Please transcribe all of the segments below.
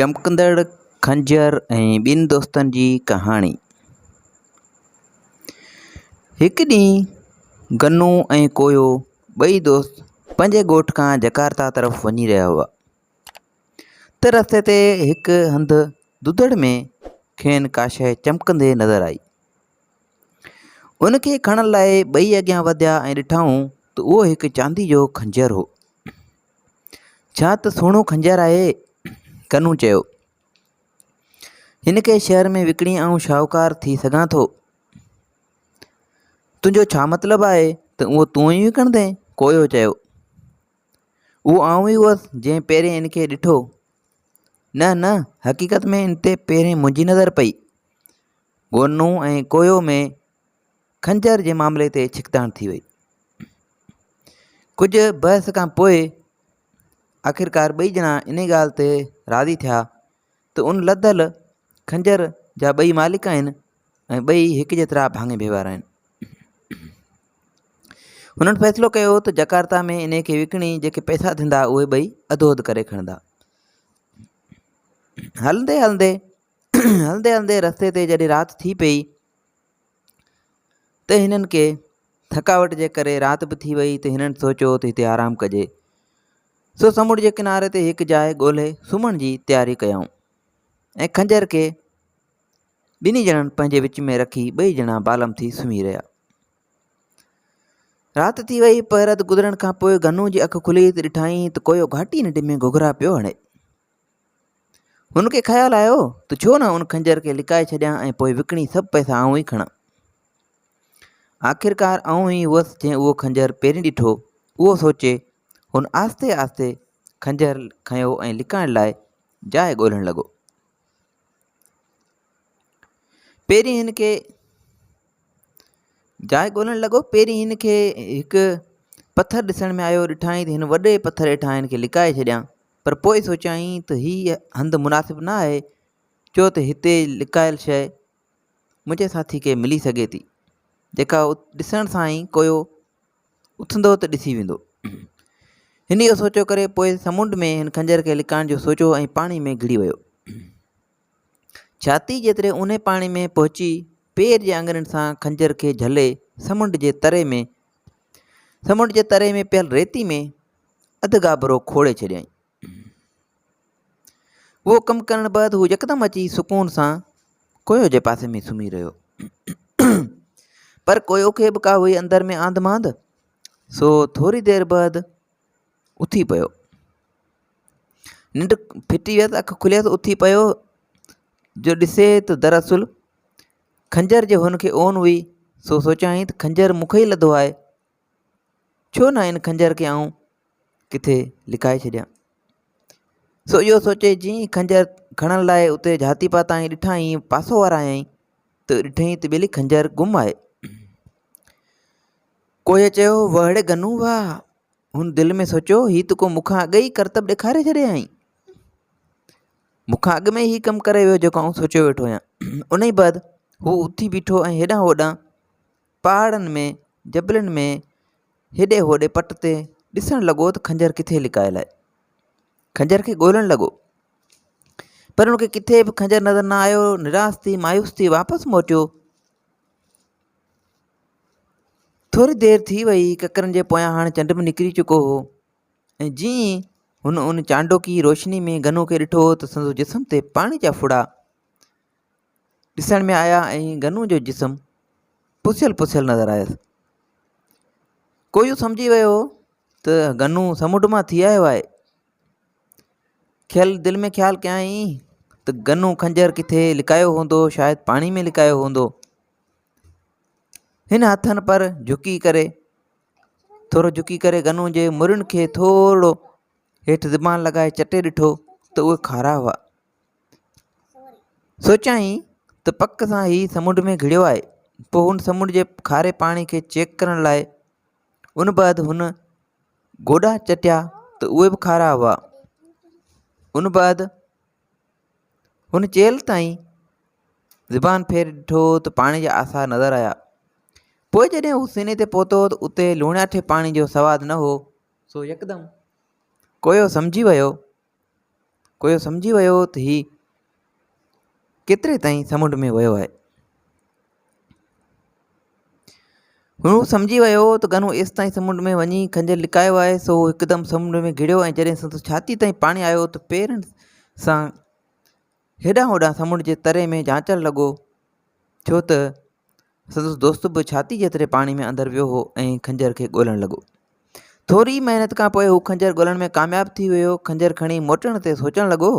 چمڪندڙ خنجر ۽ ٻن دوستن جي ڪهاڻي هڪ ڏينهن گنو ۽ ڪويو ٻئي دوست پنهنجي ڳوٺ کان جڪارتا طرف وڃي رهيا هئا ته رستي تي هڪ هنڌ دودڙ ۾ کين ڪا شيء چمڪندي نظر آئي ان کي کڻڻ لاء ٻئي اڳيان وڌيا ۽ ڏٺائون ته اهو هڪ چاندي جو خنجر هو ڇا ته سهڻو خنجر آهي. ڪنو چيو. هن کي شهر ۾ وڪڻي آئون شاهوڪار ٿي سگهان ٿو. تنهنجو ڇا مطلب آهي ته اهو تون ئي وڪڻندين؟ ڪويو چيو. اهو آئون ئي هئس جنهن پهرين ان کي ڏٺو. نه نه حقيقت ۾ ان تي پهرين منهنجي نظر پئي. گونو ۽ ڪويو ۾ خنجر جي معاملي تي ڇڪتاڻ ٿي وئي. ڪجهه بحث کان پوء آخرڪار ٻئي ڄڻا انهي ڳالهه تي راضي ٿيا ته ان لڌل خنجر جا ٻئي مالڪ آهن ۽ ٻئي هڪ جيترا ڀاڱي ڀي وارا آهن. هنن فيصلو ڪيو ته جڪارتا ۾ انهي کي وڪڻي جيڪي پئسا ٿيندا اهي ٻئي اڌو اڌ ڪري کڻندا. هلندي هلندي هلندي هلندي رستي تي جڏهن رات ٿي پئي ته هنن کي ٿڪاوٽ جي ڪري رات به ٿي وئي ته هنن سوچيو ته هتي آرام ڪجي سو سمنڊ جي ڪناري تي هڪ جاء ڳولهي سمهڻ جي تياري ڪيائون ۽ خنجر کي ٻنهي ڄڻن پنهنجي وچ ۾ رکي ٻئي ڄڻا بالم ٿي سمهي رهيا رات ٿي وئي پهرت گذرڻ کان پوء گنو جي اک کلي ته ڏٺائين ته ڪويو گهاٽي ننڊ ۾ گهگهرا پيو هڻي هن کي خيال آيو ته ڇو نه ان خنجر کي لڪائي ڇڏيان ۽ پوء وڪڻي سڀ پئسا آئون ئي کڻان. آخرڪار آئون ئي هئس جنهن اهو خنجر پهرين ڏٺو. اهو سوچي هن آهستي آهستي خنجر کنيو ۽ لڪائڻ لاء جاء ڳولهڻ لڳو. پهرين هن کي جاء ڳولهڻ لڳو پهرين هن کي هڪ پٿر ڏسڻ ۾ آيو ڏٺائين ته هن وڏي پٿر هيٺان هن کي لڪائي ڇڏيان. پر پوء سوچيائين ته هي هنڌ مناسب نه آهي، ڇو ته هتي لڪايل شيء منهنجي ساٿي کي ملي سگهي ٿي، جيڪا ڏسڻ سان ئي ڪوئو اٿندو ته ڏسي ويندو. هن اهو سوچيو ڪري پوء سمنڊ ۾ هن خنجر کي لڪائڻ جو سوچيو ۽ پاڻي ۾ گهڙي ويو. ڇاتي جيتري اونهي پاڻي ۾ پهچي پير جي آڱرين سان خنجر کي جهلي سمنڊ جي تري ۾، سمنڊ جي تري ۾ پيل ريتي ۾، اڌ گابرو کوڙي ڇڏيائين. اهو ڪم ڪرڻ بعد هو يڪدم اچي سڪون سان ڪويو جي پاسي ۾ سمهي رهيو پر ڪويو کي به ڪا هئي اندر ۾ آند ماند سو ٿوري دير بعد اٿي پيو ننڊ ڦٽي ويس اک کليس اٿي پيو جو ڏسي ته دراصل خنجر جي هن کي اون هئي سو سوچيائين ته خنجر مونکي ئي لڌو آهي ڇو نه ان خنجر کي آئون ڪٿي لڪائي ڇڏيان سو اهو سوچي جئين هي خنجر کڻڻ لاء اتي جهاتي پاتائين ڏٺائين پاسو ورايائين ته ڏٺئي ته ٻيلي خنجر گم آهي ڪوئي چيو وهڙي گنو واهه هن دل ۾ سوچيو هي ته ڪو مون کان اڳ ئي ڪرتب ڏيکاري ڇڏيائين مون کان اڳ ۾ هي ڪم ڪري ويو جيڪو آئون سوچيو ويٺو هيان ان ئي بعد هو اٿي بيٺو ۽ هيڏانهن هوڏانهن پهاڙن ۾ جبلن ۾ هيڏي هوڏي پٽ تي ڏسڻ لڳو ته خنجر ڪٿي لڪايل آهي خنجر کي ڳولڻ لڳو پر ان کي ڪٿي به خنجر نظر نه آيو نراس ٿي مايوس ٿي واپس موٽيو ٿوري دير ٿي وئي ڪڪرن جي پويان هاڻي چنڊ به نڪري چڪو هو ۽ جي هن ان چانڊوڪي روشني ۾ گنو کي ڏٺو ته سندس جسم تي پاڻي جا ڦڙا ڏسڻ ۾ آيا ۽ گنو جو جسم پسيل پسيل نظر آيس ڪوئيون سمجهي ويو هو ته گنو سمنڊ مان ٿي آيو آهي کيل دل ۾ خيال ڪيائين ته گنو خنجر ڪٿي لڪايو هوندو شايد پاڻي ۾ لڪايو هوندو هن هٿن پر جهڪي ڪري ٿورو جهڪي ڪري گنو جي مرن کي ٿورو هيٺ زبان لڳائي چٽي ڏٺو ته اهي کارا هئا سوچيائين ته پڪ سان هي سمنڊ ۾ گهڙيو آهي. پوء هن سمنڊ جي کاري پاڻي کي چيڪ ڪرڻ لاء ان بعد هن گوڏا چٽيا ته اهي به کارا هئا. ان بعد هن چيلهه تائين زبان ڦيري ڏٺو ته پاڻي جا آثار نظر آيا. پوء جڏهن هو سيني تي پهتو ته اتي لوڻياٺي پاڻي جو سواد نه هو. سو يڪدم ڪويو سمجهي ويو ڪويو سمجهي ويو هو ته هي ڪيتري تائين سمنڊ ۾ ويو آهي هو سمجهي ويو هو ته گنو ايستائين سمنڊ ۾ وڃي کنجر لڪايو آهي سو هو هڪدم سمنڊ ۾ گهڙيو ۽ جڏهن سندس ڇاتي تائين پاڻي آيو ته پيرن سان هيڏانهن هوڏانهن سمنڊ جي تري ۾ جانچڻ لڳو ڇو ته سندس دوست به ڇاتي جيتري پاڻي ۾ اندر ويو هو ۽ خنجر کي ڳولڻ لڳو ٿوري محنت کان پوء هو خنجر ڳولڻ ۾ ڪامياب ٿي ويو خنجر کڻي موٽڻ تي سوچڻ لڳو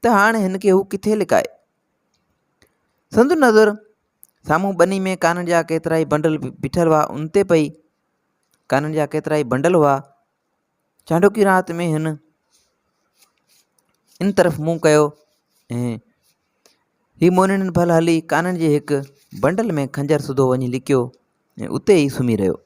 ته هاڻ هن کي هو ڪٿي لڪائي سندس نظر سامهون ٻني ۾ ڪانن جا ڪيترائي بنڊل بيٺل هئا ان تي پئي ڪانن جا ڪيترائي بنڊل هئا چانڊوڪي رات ۾ هن ان طرف منهن ڪيو ۽ هي مونين ڀل هلي ڪانن جي هڪ بنڊل ۾ خنجر سڌو وڃي لڪيو ۽ اتي ئي سمهي رهيو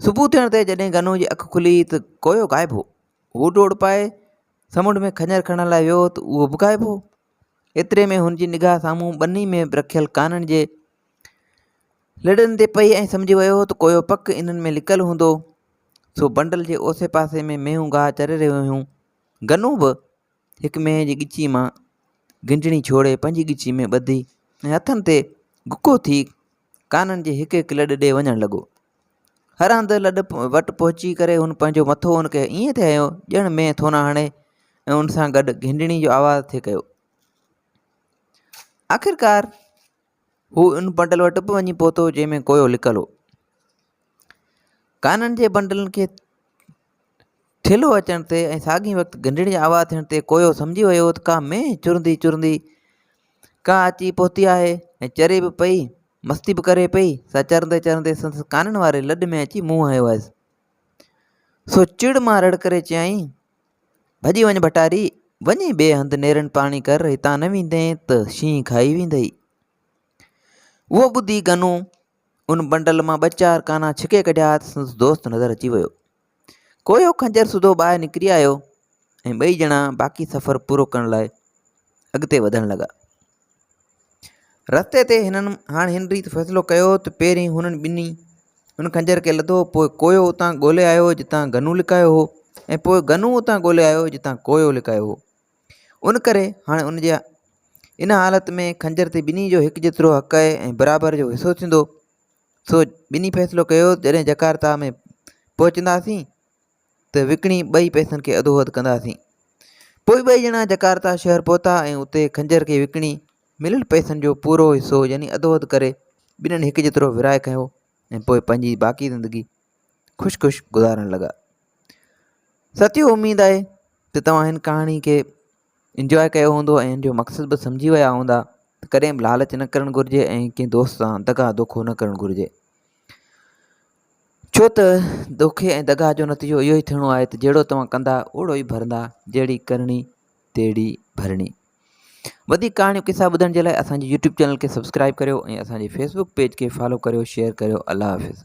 صبح ٿيڻ تي جڏهن گنو جي اک کلي ته ڪويو غائب هو هو ڊوڙ پائي سمنڊ ۾ خنجر کڻڻ لاء ويو ته اهو به غائب هو ايتري ۾ هن جي نگاهه سامهون ٻني ۾ رکيل ڪانن جي لڙن تي پئي ۽ سمجهي ويو ته ڪويو پڪ انهن ۾ لڪل هوندو سو بنڊل جي اوسي پاسي ۾ مينهون گاهه چري رهيون هيون گنو به هڪ مينهن جي ڳچي مان گنجڻي ڇوڙي پنهنجي ڳچي ۾ ٻڌي ۽ هٿن تي گڪو ٿي ڪانن جي هڪ هڪ لڏ ڏي وڃڻ لڳو هر هنڌ لڏ وٽ پهچي ڪري هن پنهنجو مٿو هن کي ائين ٿي هنيو ڄڻ مينهن ٿو نه هڻي ۽ ان سان گڏ گنجڻي جو آواز ٿي ڪيو آخرڪار هو ان بنڊل وٽ به وڃي پهتو جنهن ۾ ڪوئو لڪل هو ڪانن جي بنڊلن کي ٿيلهو اچڻ تي ۽ ساڳي وقت گهنڊڙ جي آواز ٿيڻ تي ڪوئو سمجهي ويو هو ته ڪا مينهن چرندي چرندي ڪا اچي پهتي آهي ۽ چري به پئي مستي به ڪري پئي سا چرندي چرندي سندس ڪانن واري لڏ ۾ اچي منهن هنيو هيس سو چڙ مان رڙ ڪري چيائين ڀڄي وڃ ڀٽاري، وڃي ٻئي هنڌ نيرن پاڻي ڪر، هتان نه ويندين ته شينهن کائي ويندئي. اهو ٻڌي گنو ان بنڊل مان ٻه چار ڪانا ڇڪي ڪڍيا ته سندس دوست نظر اچي ويو. ڪويو خنجر سڌو ٻاهر نڪري آيو ۽ ٻئي ڄڻا باقي سفر پورو ڪرڻ لاء اڳتي وڌڻ لڳا. رستي تي هنن هاڻ هن ريت فيصلو ڪيو ته پهرين هنن ٻنهي ان خنجر کي لڌو پوء ڪويو اتان ڳولي آيو جتان گنو لڪايو هو ۽ پوء گنو اتان ڳولي آيو جتان ڪويو لڪايو هو ان ڪري هاڻي ان جي ان حالت ۾ خنجر تي ٻنهي جو هڪ جيترو حق ۽ برابر جو حصو ٿيندو سو ٻنهي فيصلو ڪيو جڏهن جڪارتا ۾ پهچنداسين ته وڪڻي ٻئي پئسن کي اڌو اڌ ڪنداسين. پوء ٻئي ڄڻا جڪارتا شهر پهتا ۽ اتي خنجر کي وڪڻي مليل پئسن جو پورو حصو يعني اڌو اڌ ڪري ٻنهن هڪ جيترو ورهائي کنيو ۽ پوء پنهنجي باقي زندگي خوش خوش گذارڻ لڳا. ساتيو اميد آهي ته توهان هن ڪهاڻي کي انجواء ڪيو هوندو ۽ هن جو مقصد به سمجهي ويا هوندا ته ڪڏهن به لالچ نه ڪرڻ گهرجي ۽ ڪنهن دوست سان دغا دوکو نه ڪرڻ گهرجي. ڇو ته دوکي ۽ دغا جو نتيجو اهو ئي ٿيڻو آهي ته جهڙو توهان ڪندا اوڙو ئي ڀرندا، جهڙي ڪرڻي تهڙي ڀرڻي. وڌيڪ ڪهاڻيون قصا ٻڌڻ جي لاء اسان جي يوٽيوب چينل کي سبسڪرائيب ڪريو ۽ اسان جي فيسبوڪ پيج کي فالو ڪريو شيئر ڪريو الله حافظ.